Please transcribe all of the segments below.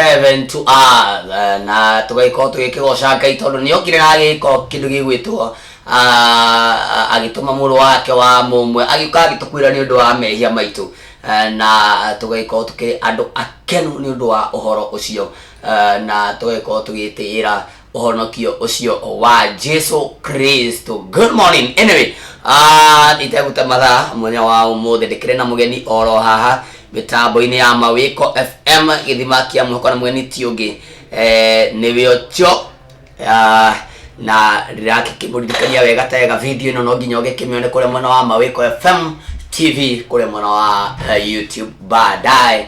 heaven to earth eh, na tũgagĩkorwo tũgĩkĩgoca ngai tondũ nĩ okire na agĩko kĩndũ gĩgwĩtwo ah, agĩtũma mũrũ wake wa mũmwe agĩũka agĩtũkuĩra nĩ ũndũ wa mehia maitũ Eh, na tũgagĩkorwo tũkĩrĩ andũ akenu nĩ ũndũ wa ũhoro ũcio Eh, na tũgagĩkorwo tũgĩtĩĩra ũhonokio ũcio wa jesu kristo good morning anyway ah, itegũte mathaa mũthenya wa ũmũthĩ ndĩkĩrĩ na mũgeni oro haha mĩtambo-inĩ ya mawĩko fm gĩthima kĩa mũhoko na mũgeni ti ũngĩ eh, nĩwe ũcio Ah, na ndĩrakĩmũririkania wega ta wega video ĩno no nginya ũgĩkĩmĩone kũrĩa mwena wa mawĩko fm tv kũrĩa mwena wa eh, youtube baadaye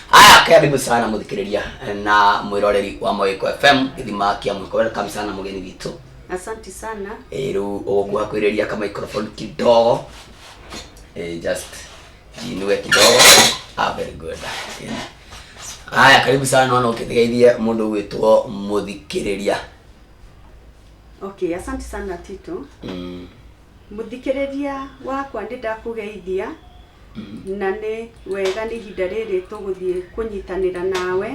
aya karibu sana muthikiriria na mwiroreri wa mawiko fm githima kia mwiko welcome sana mugeni witũ Asante sana. Eh, rĩu ũgũkuha kwĩrĩria ka microphone kidogo Eh, just jinue kidogo ah, very good Yeah. haya karibu sana naona ũkĩgeithie mũndũ gwĩtwo mũthikĩrĩria Okay, asante sana Tito. mm. Mũthikĩrĩria wakwa nĩ ndakũgeithia na nĩ wega nĩ ihinda rĩrĩ tũgũthiĩ kũnyitanĩra nawe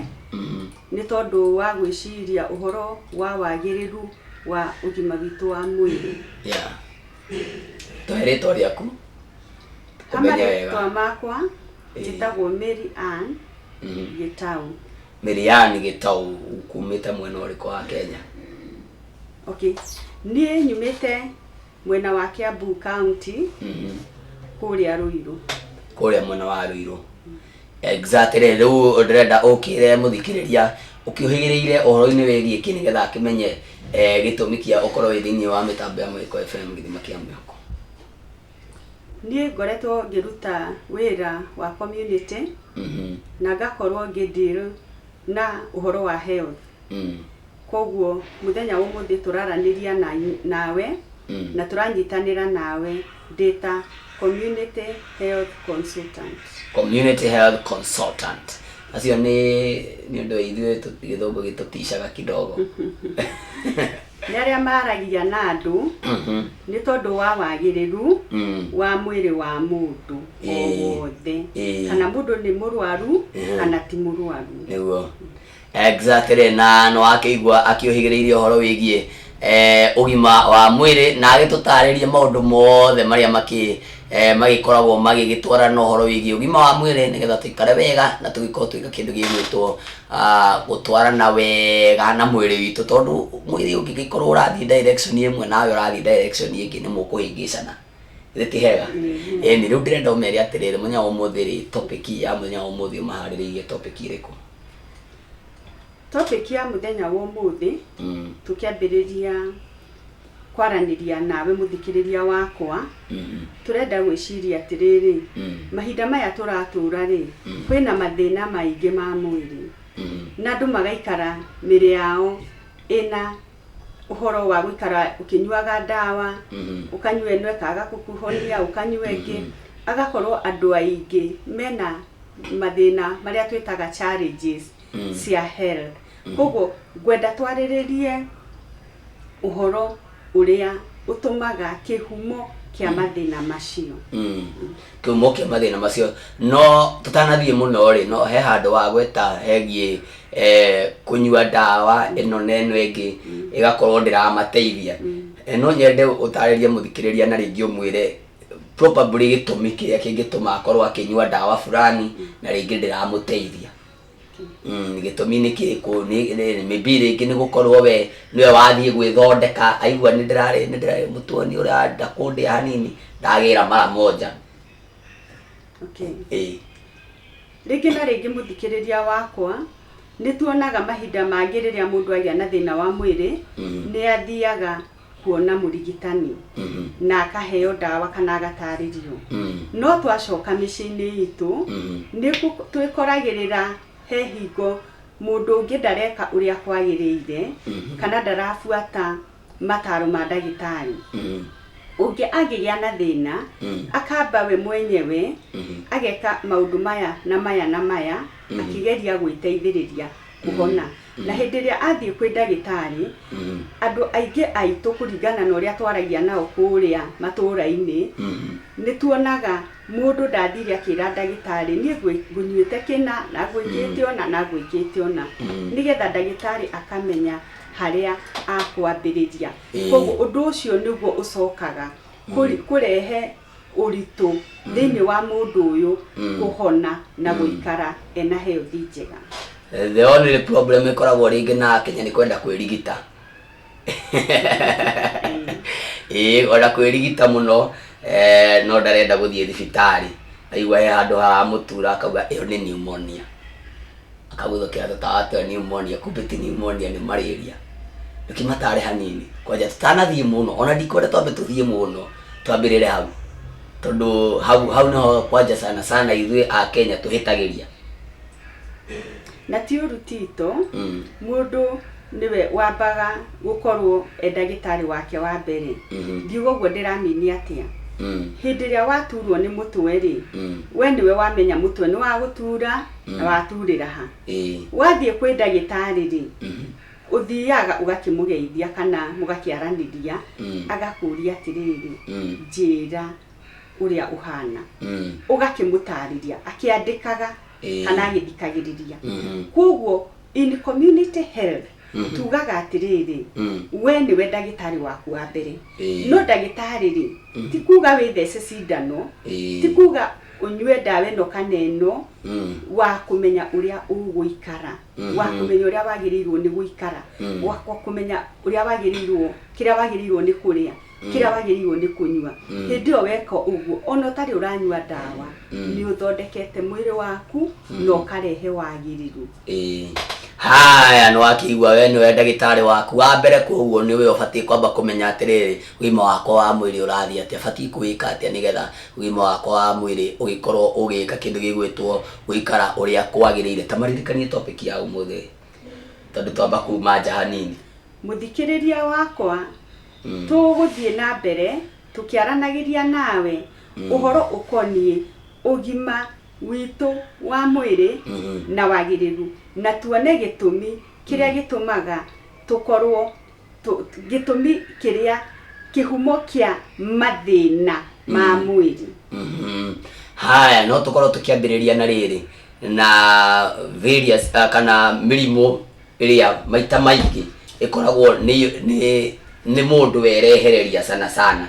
nĩ tondũ wa gwĩciria ũhoro wa wagĩrĩru wa ũgima witũ wa mwĩrĩ Yeah. Tũhe rĩtwa rĩaku. kama Kũmenya wega. rĩtwa makwa Ĩĩ. njĩtagwo Mary Ann Mhm. Gĩtaũ Miriani Gĩtaũ kumĩte mwena ũrĩkũ wa Kenya? okay niĩ nyumĩte mwena wa Kiambu County Mhm. kũrĩa Ruiru. kũrĩa mwena wa rũirũ exactly rĩu rĩu ndĩrenda ũkĩre mũthikĩrĩria ũkĩũhĩgĩrĩire ũhoro-inĩ wĩgiĩ kĩ nĩgetha akĩmenye eh, gĩtũmi kĩa ũkorwo wĩ thĩinĩ wa mĩtambo ya mũhĩko fm gĩthima kĩa mĩhoko Niĩ ngoretwo ngĩruta wĩra wa community Mhm. na ngakorwo ngĩdeal na ũhoro wa health. Mm. koguo mũthenya wa ũmũthĩ tũraranĩria na, nawe Mm. na tũranyitanĩra nawe data community health consultant community health consultant acio nĩ nĩ ũndũ ithuĩ tũ- gĩthũngũ gĩtũticaga kidogo nĩ arĩa maragia na andũ Mhm. nĩ tondũ wa wagĩrĩru Mm. wa mwĩrĩ wa mũndũ o Ĩĩ. wothe Ĩĩ. kana mũndũ nĩ mũrwaru Ĩhĩ. kana ti mũrwaru nĩguo Exactly, na nĩ wakĩigua akĩũhĩgĩrĩirie ũhoro wĩgiĩ eh, ũgima wa mwĩrĩ na agĩtũtarĩria maũndũ mothe marĩa makĩ eh, magĩkoragwo magĩgĩtwara na ũhoro wĩgiĩ ũgima wa mwĩrĩ nĩgetha tũikare wega na tũgĩkorwo twĩka kĩndũ gĩgwĩtwo ah, gũtwarana wega na mwĩrĩ witũ tondũ mwĩrĩ ũngĩgĩkorwo ũrathiĩ direction ĩmwe nawe ũrathiĩ direction ĩngĩ nĩ mũkũhĩngĩcana Githĩ ti hega? Ĩni, rĩu ndĩrenda ũmere atĩrĩrĩ, mũthenya wa ũmũthĩ rĩ, topic ya mũthenya wa ũmũthĩ ũmaharĩrĩirie topic ĩrĩkũ? Topic ya mũthenya wa ũmũthĩ Mm, tũkĩambĩrĩria kwaranĩria nawe mũthikĩrĩria wakwa mm, tũrenda gwĩciria atĩrĩrĩ mm, mahinda maya tũratũra rĩ Mm. kwĩna mathĩna maingĩ ma mwĩrĩ mm, na andũ magaikara mĩrĩ yao ĩna ũhoro wa gũikara ũkĩnyuaga ndawa ũkanyua ĩno ĩkaga gũkũhonia ũkanyua ĩngĩ agakorwo andũ aingĩ mena mathĩna marĩa twĩtaga challenges cia health kwoguo ngwenda twarĩrĩrie ũhoro ũrĩa ũtũmaga kĩhumo kĩa mathĩna macio. Kĩhumo kĩa mathĩna macio. No tũtanathiĩ mũno-rĩ, no he handũ wa gweta hegiĩ kũnyua ndawa ĩno na ĩno ĩngĩ ĩgakorwo ndĩramateithia. No nyende ũtarĩrie mũthikĩrĩria na rĩngĩ ũmwĩre probably gĩtũmi kĩrĩa kĩngĩtũma akorwo akĩnyua ndawa fulani na rĩngĩ ndĩramũteithia. Mm, gĩtũmi nĩ kĩrĩkũ Nĩ- nĩ- maybe rĩngĩ nĩ gũkorwo we nĩwe wathiĩ gwĩthondeka aigua nĩ ndĩrarĩ nĩ ndĩrarĩ mũtuoni ũrĩa ndakũndĩa hanini ndagĩra mara moja okay. ĩĩ rĩngĩ na rĩngĩ mũthikĩrĩria wakwa nĩ tuonaga mahinda mangĩ rĩrĩa mũndũ agĩa na thĩna wa mwĩrĩ Mhm. nĩ athiaga kuona mũrigitani Mhm. na akaheo ndawa kana agatarĩrio Mhm. no twacoka mĩciĩ-inĩ itũ Mhm. nĩ gũ- twĩkoragĩrĩra he hingo mũndũ ũngĩ ndareka ũrĩa kwagĩrĩire Mhm. kana ndarabuata mataro ma ndagĩtarĩ Mhm. ũngĩ angĩgĩa na thĩna Mhm. akamba we mwenyewe Mhm. ageka maũndũ maya na maya na maya Mhm. akĩgeria gwĩteithĩrĩria kũhona Na hĩndĩ ĩrĩa athiĩ kwĩ ndagĩtarĩ, andũ aingĩ aitũ kũringana na ũrĩa twaragia nao kũrĩa matũũra-inĩ, nĩ tuonaga mũndũ ndathire akĩra ndagĩtarĩ niĩ ngũnyuĩte kĩna, na ngũĩkĩte ũna, na ngũĩkĩte ũna. Nĩ getha ndagĩtarĩ akamenya harĩa akwambĩrĩria. Kũguo ũndũ ũcio nĩguo ũcokaga kũrehe... ũritũ thĩinĩ wa mũndũ ũyũ kũhona na gũikara ena health njega the only problem ĩkoragwo rĩngĩ na akenya nĩ kwenda kwĩrigita ĩĩ ona kwĩrigita mũno eh, no ndarenda gũthiĩ thibitarĩ aigua he handũ haramũtura akauga ĩyo nĩ pneumonia Akagutho kĩra tũtawatwe pneumonia kumbe ti pneumonia nĩ malaria tũkĩmatare hanini kwanja tũtanathiĩ mũno ona ndikwenda twambe tũthiĩ mũno twambĩrĩre hau tondũ hau hau nĩho kwanja sana sana ithuĩ a Kenya tũhĩtagĩria na ti ũru tito Mm. mũndũ nĩwe wambaga gũkorwo e ndagĩtarĩ wake wa mbere Mhm. ngiuga ũguo ndĩramini atĩa Mm. hĩndĩ ĩrĩa waturwo nĩ mũtwe rĩ Mm. we nĩwe wamenya mũtwe nĩ wagũtura na waturĩra ha ĩĩ wathiĩ kwĩ ndagĩtarĩ rĩ mhm, ũthiaga ũgakĩmũgeithia kana mũgakĩaranĩria mm, agakũria atĩrĩrĩ mm, njĩra ũrĩa ũhana mm, ũgakĩmũtarĩria akĩandĩkaga Ĩĩ. kana agĩthikagĩrĩria mhm, kwoguo in community health Mhm. tugaga atĩrĩrĩ Mm. we nĩwe ndagĩtarĩ waku wa mbere Ĩĩ. no ndagĩtarĩ rĩ Mhm. ti kuga wĩthece cindano Ĩĩ. ti kuga ũnyue ndawa ĩno kana ĩno Mm. wa kũmenya ũrĩa ũgũikara Mhm. wa kũmenya ũrĩa wagĩrĩirwo nĩ gũikara Mhm. wa wa kũmenya ũrĩa wagĩrĩirwo kĩrĩa wagĩrĩirwo nĩ kũrĩa kĩrĩa wagĩrĩirwo nĩ kũnyua Mm. hĩndĩ ĩyo weka ũguo ona ũtarĩ ũranyua ndawa Mm. nĩ ũthondekete mwĩrĩ waku na ũkarehe wagĩrĩru Ĩĩ. haya nĩ wakĩigua we nĩwe ndagĩtarĩ waku wa mbere koguo nĩ we ũbatiĩ kwamba kũmenya atĩrĩrĩ ũgima wakwa wa mwĩrĩ ũrathiĩ atĩa batiĩ kũwĩka atĩa nĩgetha ũgima wakwa wa mwĩrĩ ũgĩkorwo ũgĩka kĩndũ gĩgwĩtwo gũikara ũrĩa kwagĩrĩire ta maririkanie topic ya ũmũthĩ tondũ twamba kuma nja hanini mũthikĩrĩria wakwa Tũgũthiĩ na mbere tũkĩaranagĩria nawe ũhoro ũkoniĩ ũgima witũ wa mwĩrĩ na wagĩrĩru na tuone gĩtũmi kĩrĩa gĩtũmaga tũkorũo, gĩtũmi kĩrĩa, kĩhumo kĩa mathĩna ma mwĩrĩ. Haya, no tũkorũo tũkĩambĩrĩria na rĩrĩ, na various kana mĩrimũ. ĩrĩa maita maingĩ ĩkoragwo nĩ nĩ nĩ mũndũ werehereria sana sana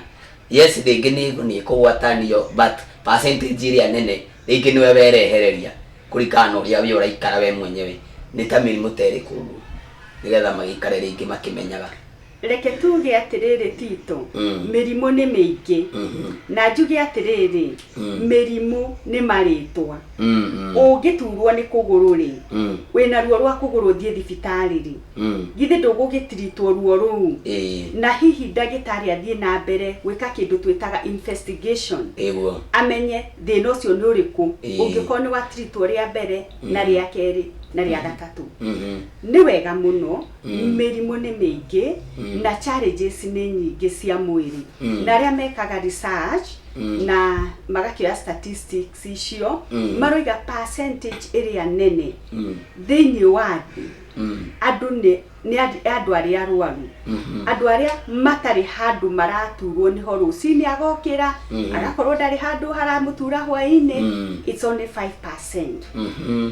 yes rĩngĩ nĩ nĩ kũgwatanio but percentage ĩrĩa nene rĩngĩ nĩwe werehereria kũringana na ũrĩa we ũraikara we mwenyewe nĩ ta mĩrimũ ta ĩrĩkũ ũguo nĩgetha magĩikare rĩngĩ makĩmenyaga Reke tuuge atĩrĩrĩ, Tito, mĩrimũ nĩ mĩingĩ, na njuge atĩrĩrĩ, mĩrimũ nĩ marĩĩtwa. Ũngĩtuurwo nĩ kũgũrũ-rĩ, wĩ na ruo rwa kũgũrũ ũthiĩ thibitarĩ-rĩ, githĩ ndũgũgĩtiritwo ruo rũu, na hihi ndagĩtarĩ athiĩ na mbere gwĩka kĩndũ twĩtaga investigation, amenye thĩna ũcio nĩ ũrĩkũ, ũngĩkorwo nĩ watiritwo rĩa mbere, na rĩa kerĩ, na rĩa gatatũ? Nĩ wega mũno. Mm. mĩrimũ nĩ mĩingĩ Mm. na challenges nĩ nyingĩ cia mwĩrĩ Mm. na arĩa mekaga research Mm. na magakĩoya statistics icio Mm. maroiga percentage ĩrĩa nene Mm. thĩinĩ wa thĩ Mm. andũ nĩ nĩ andũ- andũ arĩa arwaru Mhm. andũ arĩa matarĩ handũ maraturwo nĩho rũcinĩ agokĩra Mhm. agakorwo ndarĩ handũ haramũtura hwainĩ Mm. it's only 5% Mhm.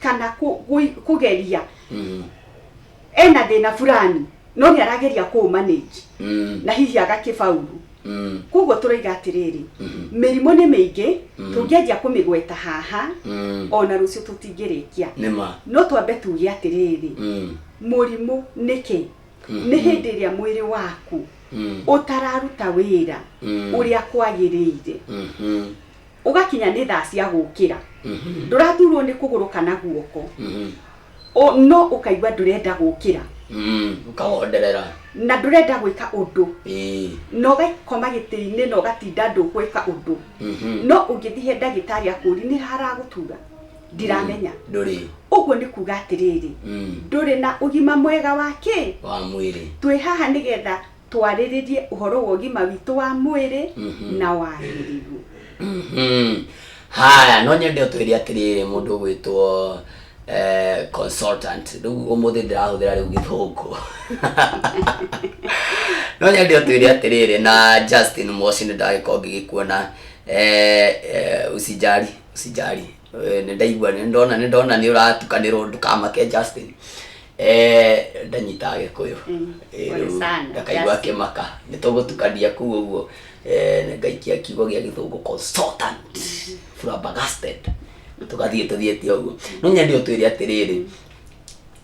kana kũ- gũi- kũgeria Mm. ena thĩna fulani no nĩ arageria kũ manage Mm. na hihi agakĩbauru Mm. koguo tũroiga atĩrĩrĩ Mhm. mĩrimũ nĩ mĩingĩ Mhm. tũngĩanjia kũmĩgweta haha Mm. ona rũciũ tũtingĩrĩkia nĩ ma no twambe tuge atĩrĩrĩ Mm. mũrimũ nĩkĩ Mhm. nĩ hĩndĩ ĩrĩa mwĩrĩ waku Mm. ũtararuta wĩra Mm. ũrĩa kwagĩrĩire Mhm. ũgakinya nĩ thaa cia gũkĩra ndũraturwo nĩ kũgũrũ kana guoko Mhm. O- no ũkaigua ndũrenda gũkĩra Mm, ũkahonderera na ndũrenda gwĩka ũndũ Ĩĩ. na ũgakoma gĩtĩ-inĩ na ũgatinda ndũgwĩka ũndũ Mhm. no ũngĩthiĩ he ndagĩtarĩ akũri nĩ haragũtura ndiramenya ndũrĩ ũguo nĩ kuga atĩrĩrĩ Mm, ndũrĩ na ũgima mwega wa kĩ wa mwĩrĩ twĩ haha nĩgetha twarĩrĩrie ũhoro wa ũgima witũ wa mwĩrĩ na wagĩrĩru Mhm. haya no nyende ũtwĩre atĩrĩrĩ mũndũ ũgwĩtwo eh, consultant rĩu ũmũthĩ ndĩrahũthĩra rĩu gĩthũngũ no nyende ũtwĩre atĩrĩrĩ na justin mosi nĩ ndagĩkorwo ngĩgĩkuona eh, eh, usijari usijari Eh, nĩ ndaigua nĩ ndona nĩ ndona nĩ ũratukanĩrwo ndũkamake justin Eh, ndanyitaga gĩkũyũ Mm, Eh, pole rĩu sana, ngakaigua just- akĩmaka nĩ tũgũtukania kuu ũguo Eh, na ngaikia kiugo gĩa gĩthũngũ consultant flabbergasted tũgathiĩ tũthiĩte ũguo no nyandĩ ũtwĩre atĩrĩrĩ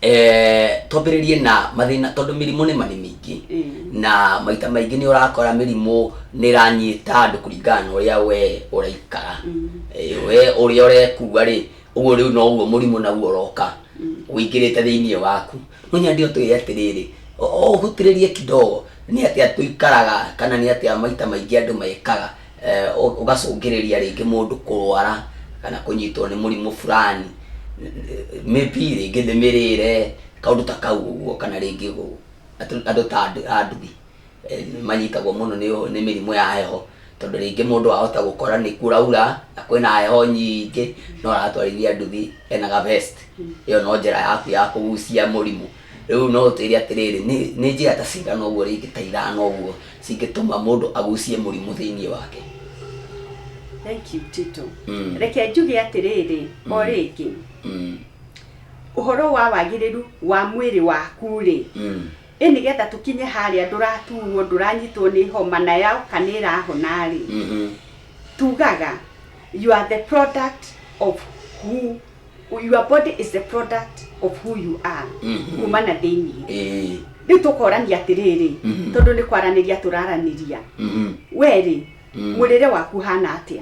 eh, twambĩrĩrie na mathĩna tondũ mĩrimũ nĩ manĩ mĩingĩ Mm. na maita maingĩ nĩ ũrakora mĩrimũ nĩ ĩranyita andũ kũringana na ũrĩa we ũraikara Mm. Eh, we ũrĩa ũrekua rĩ ũguo rĩu noguo mũrimũ naguo ũroka ũingĩrĩte thĩinĩ waku no nyandĩ ũtwĩre atĩrĩrĩ ũhutĩrĩrie kidogo nĩ atĩ atũikaraga kana nĩ atĩ maita maingĩ andũ mekaga eh, ũ- ũgacũngĩrĩria rĩngĩ mũndũ kũrwara kana kũnyitwo nĩ mũrimũ fulani maybe rĩngĩ nĩ mĩrĩre kaũndũ ta kau ũguo kana rĩngĩ ũ- atũ- andũ ta andũ a nduthi manyitagwo mũno nĩ mĩrimũ ya heho tondũ rĩngĩ mũndũ ahota gũkora nĩ kũraura na kwĩna heho nyingĩ no aratwarithia nduthi ena ga vest ĩyo no njĩra yaku ya kũgucia mũrimũ. Rĩu no ũtwĩre atĩrĩrĩ nĩ njĩra ta cigana ũguo rĩngĩ ta ithano ũguo cingĩtũma mũndũ agucie mũrimũ thĩinĩ wake? Thank you Tito. Reke njuge atĩrĩrĩ o rĩngĩ ũhoro wa wagĩrĩru wa mwĩrĩ waku rĩ, Ĩ nĩ getha tũkinye harĩa ndũraturwo, ndũranyitwo nĩ homa na yoka nĩ ĩrahona rĩ, tugaga you are the product of who your body is the product of who you are kuma na thĩinĩ Ĩĩ. rĩu tũkorania atĩrĩrĩ tondũ nĩ kwaranĩria tũraranĩria we rĩ mũrĩre waku ũhana atĩa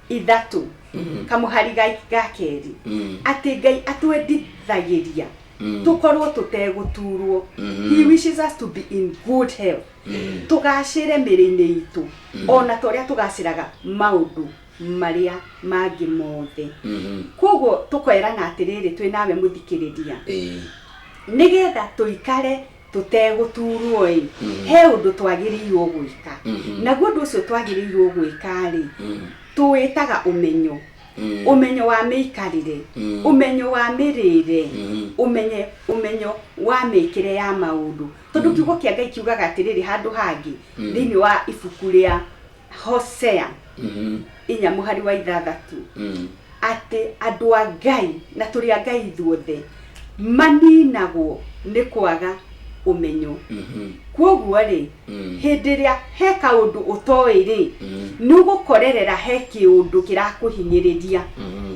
ithatũ Mm. kamũhari ga ga kerĩ Mm. atĩ ngai atwendithagĩria Mm. tũkorwo tũtegũturwo Mhm. he wishes us to be in good health Mm. tũgacĩre mĩrĩ-inĩ itũ Mm. ona ta ũrĩa tũgacĩraga maũndũ marĩa mangĩ mothe Mhm. koguo tũkerana atĩrĩrĩ twĩ nawe mũthikĩrĩria Ĩĩ. nĩgetha tũikare tũtegũtuurwo-ĩ, Mhm. he ũndũ twagĩrĩirwo gwĩka Mhm. naguo ũndũ ũcio twagĩrĩirwo gwĩka-rĩ Mm, tũwĩtaga ũmenyo mm, ũmenyo wa mĩikarĩre Mm. ũmenyo wa mĩrĩre Mhm. ũmenye ũmenyo wa mĩkĩre ya maũndũ tondũ kiugo kĩa ngai kiugaga atĩrĩrĩ handũ hangĩ thĩinĩ wa ibuku rĩa hosea Mhm. inya mũhari wa ithathatũ Mm. atĩ andũ a ngai na tũrĩ a ngai ithuothe maninagwo nĩ kwaga ũmenyo Mhm. kwoguo rĩ Mm. hĩndĩ ĩrĩa he kaũndũ ũtoĩ rĩ Mm. nĩ ũgũkorerera he kĩũndũ kĩrakũhinyĩrĩria Mhm.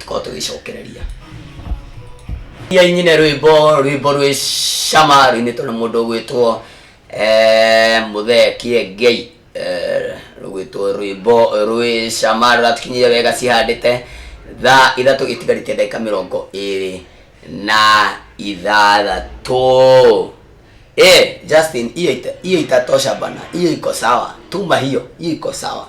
tũkorwo tũgĩcokereria ia nyine rwĩmbo rwĩmbo rwĩ cama rũinĩtwo na mũndũ ũgwĩtwo eh, mũthee kĩengei eh, rũgwĩtwo rwĩmbo rwĩ cama rũratukinyire wega cihandĩte thaa ithatũ itigarĩtie ndagĩka mĩrongo ĩrĩ na ithathatũ Eh, Justin, hiyo ita- hiyo itatosha bana, hiyo iko sawa, tuma hiyo, hiyo iko sawa.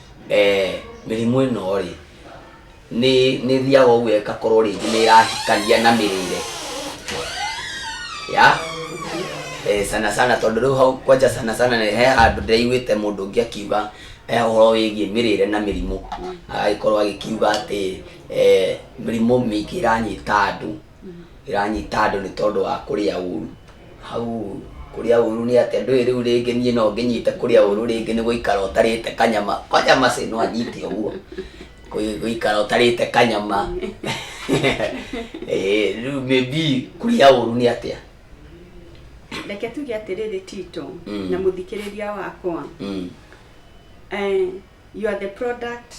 eh, mĩrimũ ĩno rĩ nĩ nĩ thiaga ũguo ĩgakorwo rĩngĩ nĩ ĩrahikania na mĩrĩre ya eh, sana sana tondũ rĩu hau kwanja sana sana nĩ he handũ ndĩraiguĩte mũndũ ũngĩ akiuga eh, ũhoro wĩgiĩ mĩrĩre na mĩrimũ agagĩkorwo agĩkiuga atĩ eh, mĩrimũ mĩingĩ ĩranyita andũ ĩranyita andũ nĩ tondũ wa kũrĩa ũru hau kũrĩa ũru nĩ atĩa ndũĩ rĩu rĩngĩ niĩ no ngĩnyite kũrĩa ũru rĩngĩ nĩ gũikara ũtarĩte kanyama kanyama cĩ no anyite ũguo Kũi- gũikara ũtarĩte kanyama Eh, rĩu maybe kũrĩa ũru nĩ atĩa reke tuge atĩrĩrĩ tito Mm. na mũthikĩrĩria wakwa Mm. eh, you are the product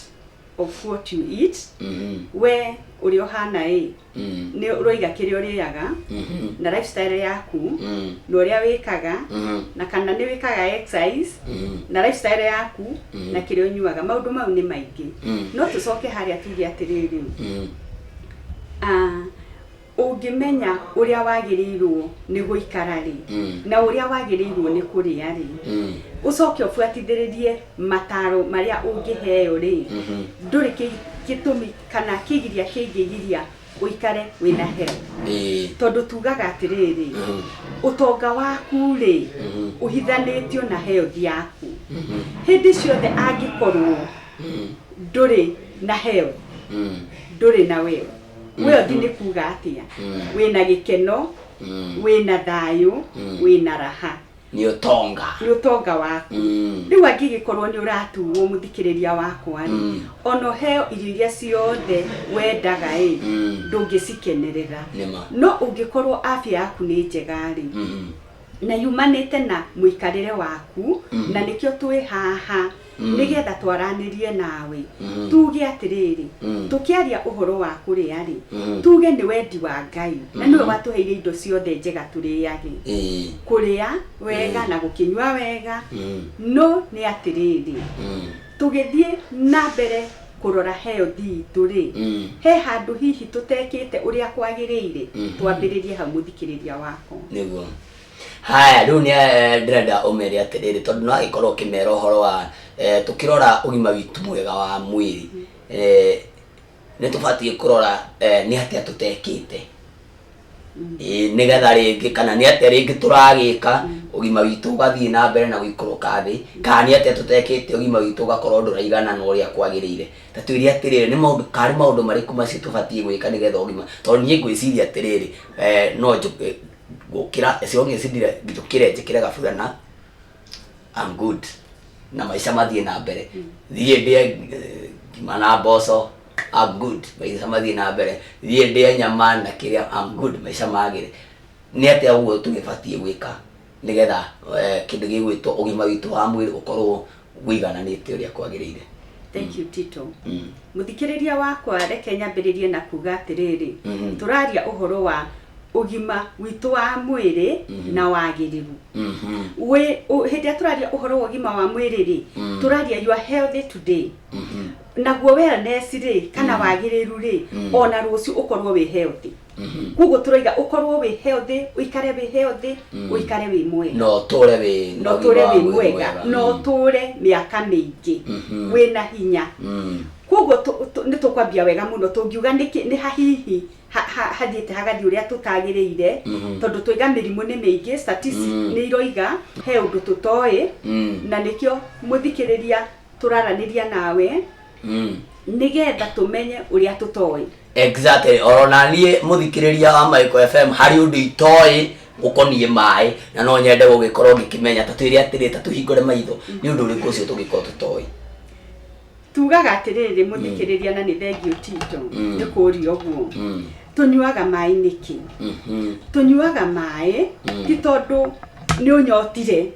of what you eat Mhm. we ũrĩa ũhana ĩ Mm. nĩ ũroiga kĩrĩa ũrĩaga Mhm. na lifestyle yaku Mm. na ũrĩa wĩkaga Mhm. na kana nĩ wĩkaga exercise Mhm. na lifestyle yaku Mhm. na kĩrĩa ũnyuaga maũndũ mau nĩ maingĩ Mhm. no tũcoke harĩa tuge atĩrĩrĩ Mm. ah, Ũngĩmenya ũrĩa wagĩrĩirũo nĩ gũikara-rĩ, na ũrĩa wagĩrĩirũo nĩ kũrĩa-rĩ, ũcoke ũbuatithĩrĩrie mataaro marĩa ũngĩheo-rĩ, ndũrĩ gĩtũmi kana kĩgiria kĩngĩgiria ũikare wĩ na health. Tondũ tugaga atĩrĩrĩ, ũtonga waku-rĩ, ũhithanĩtio na health yaku. Hĩndĩ ciothe angĩkorũo ndũrĩ na health, ndũrĩ na wealth. we ũthiĩ nĩ kuga atĩa Mm. wĩna gĩkeno Mm. wĩna thayũ Mm. wĩna raha nĩ ũtonga nĩ ũtonga waku Mm. rĩu angĩgĩkorwo nĩ ũratuo mũthikĩrĩria wakwa rĩ Mm. ona ũheo irio iria ciothe wendaga ĩ Mm. ndũngĩcikenerera nĩma no ũngĩkorwo afya yaku nĩ njega rĩ Mhm. na yumanĩte na mũikarĩre waku Mhm. na nĩkĩo twĩ haha nĩgeetha twaranĩrie nawe, tuuge atĩrĩrĩ, tũkĩaria ũhoro wa kũrĩa-rĩ, tuuge nĩ wendi wa Ngai, na nĩwe watũheire indo ciothe njega tũrĩage, kũrĩa, wega, na gũkĩnyua wega, no nĩ atĩrĩrĩ, tũgĩthiĩ na mbere kũrora health iitũ-rĩ, he handũ hihi tũtekĩte ũrĩa kwagĩrĩire? Twambĩrĩrie hau mũthikĩrĩria wakwa. Haya rĩu nĩ eh, ndĩrenda ũmere atĩrĩrĩ tondũ no agĩkorwo ũkĩmera ũhoro wa eh, tũkĩrora ũgima witũ mwega wa mwĩrĩ eh, nĩ tũbatiĩ kũrora eh, nĩ atĩa tũtekĩte Ĩĩ, nĩgetha rĩngĩ kana nĩ atĩa rĩngĩ tũragĩka ũgima witũ ũgathiĩ na mbere na gũikũrũka thĩ kana nĩ atĩa tũtekĩte ũgima witũ ũgakorwo ndũraigana na ũrĩa kwagĩrĩire ta twĩre atĩrĩrĩ nĩ maũndũ karĩ maũndũ marĩkũ macio tũbatiĩ gwĩka nĩgetha ũgima tondũ niĩ ngwĩciria atĩrĩrĩ eh, no njũke gukira as long as ndire njukire njikire gaburana I'm good na maica mathiĩ na mbere thiĩ ndĩe eh, ngima na mboco I'm good maica mathiĩ na mbere thiĩ ndĩe nyama na kĩrĩa I'm good maica magĩre nĩ atĩa ũguo tũgĩbatiĩ gwĩka nĩgetha eh, kĩndũ gĩgwĩtwo ũgima witũ wa mwĩrĩ ũkorwo wĩigananĩte ũrĩa kwagĩrĩire. Thank you Tito. Mm. Mũthikĩrĩria wakwa reke nyambĩrĩrie na kuga atĩrĩrĩ, Mhm. tũraria ũhoro wa ũgima witũ wa mwĩrĩ Mhm. na wagĩrĩru. Mhm. Wĩ- ũ- Hĩndĩ ĩrĩa tũraria ũhoro wa ũgima wa mwĩrĩ rĩ, Mm. tũraria you are healthy today. Mhm. Naguo wellness rĩ, kana Mm. wagĩrĩru rĩ, Mm. ona rũciũ ũkorwo wĩ healthy. koguo tũraiga ũkorwo wĩ healthy ũikare wĩ healthy ũikare wĩ mwega na ũtũre wĩ na ũtũre wĩ mwega na ũtũre mĩaka mĩingĩ Mhm. wĩna hinya Mm. koguo tũ- tũ- nĩ tũkwambia wega mũno tũngiuga nĩkĩ- nĩ hahihi ha- ha- hathiĩte hagathiĩ ũrĩa tũtagĩrĩire Mhm. tondũ twaiga mĩrimũ nĩ mĩingĩ statistics Mm. nĩ iroiga he ũndũ tũtoĩ Mm. na nĩkĩo mũthikĩrĩria tũraranĩria nawe mm. nigetha tumenye uria tutoi exactly oro na nie muthikiriria wa Maiko FM hari undu itoi gukonie mai na no nyende gugikorwo ngikimenya ta twiri atiri ta tuhingure maitho ni undu uriku ucio tugikorwo tutoi tugaga atiriri muthikiriria na ni thengio tito Mm. ni kuria uguo mm. tunyuaga mai niki mm -hmm. tunyuaga mai Mm. ti tondu ni unyotire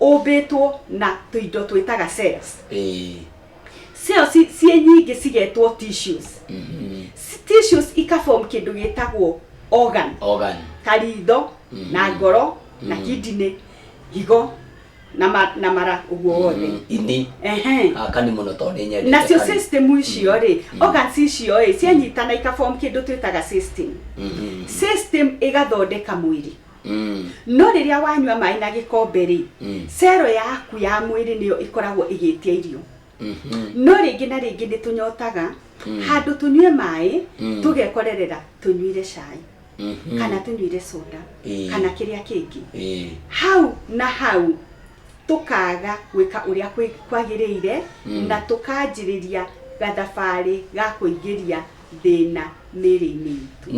ũmbĩtwo na tũindo twĩtaga cells ĩĩ cells ciĩ nyingĩ cigetwo tissues mhm, Si- tissues ikaform kĩndũ gĩtagwo organ organ karitho Mhm. na ngoro na Mhm. kidney higo na ma- na mara ũguo wothe Mm, ini Ehe. aka nĩ mũno tondũ nĩ nyendete nacio kani. system icio rĩ organs icio rĩ cianyitana ikaform kĩndũ twĩtaga system Mhm, system ĩgathondeka mwĩrĩ Mm. no rĩrĩa wanyua maĩ na gĩkombe rĩ Mm. cero yaku ya mwĩrĩ nĩyo ĩkoragwo ĩgĩtia irio Mhm. no rĩngĩ na rĩngĩ nĩ tũnyotaga Mm. handũ tũnyue maĩ Mm. tũgekorerera tũnyuire cai Mhm. kana tũnyuire soda Eh. kana kĩrĩa kĩngĩ Eh. hau na hau tũkaga gwĩka ũrĩa kwĩ- kwagĩrĩire Mm. na tũkanjĩrĩria gathabarĩ ga kũingĩria thĩna mĩrĩ-inĩ itũ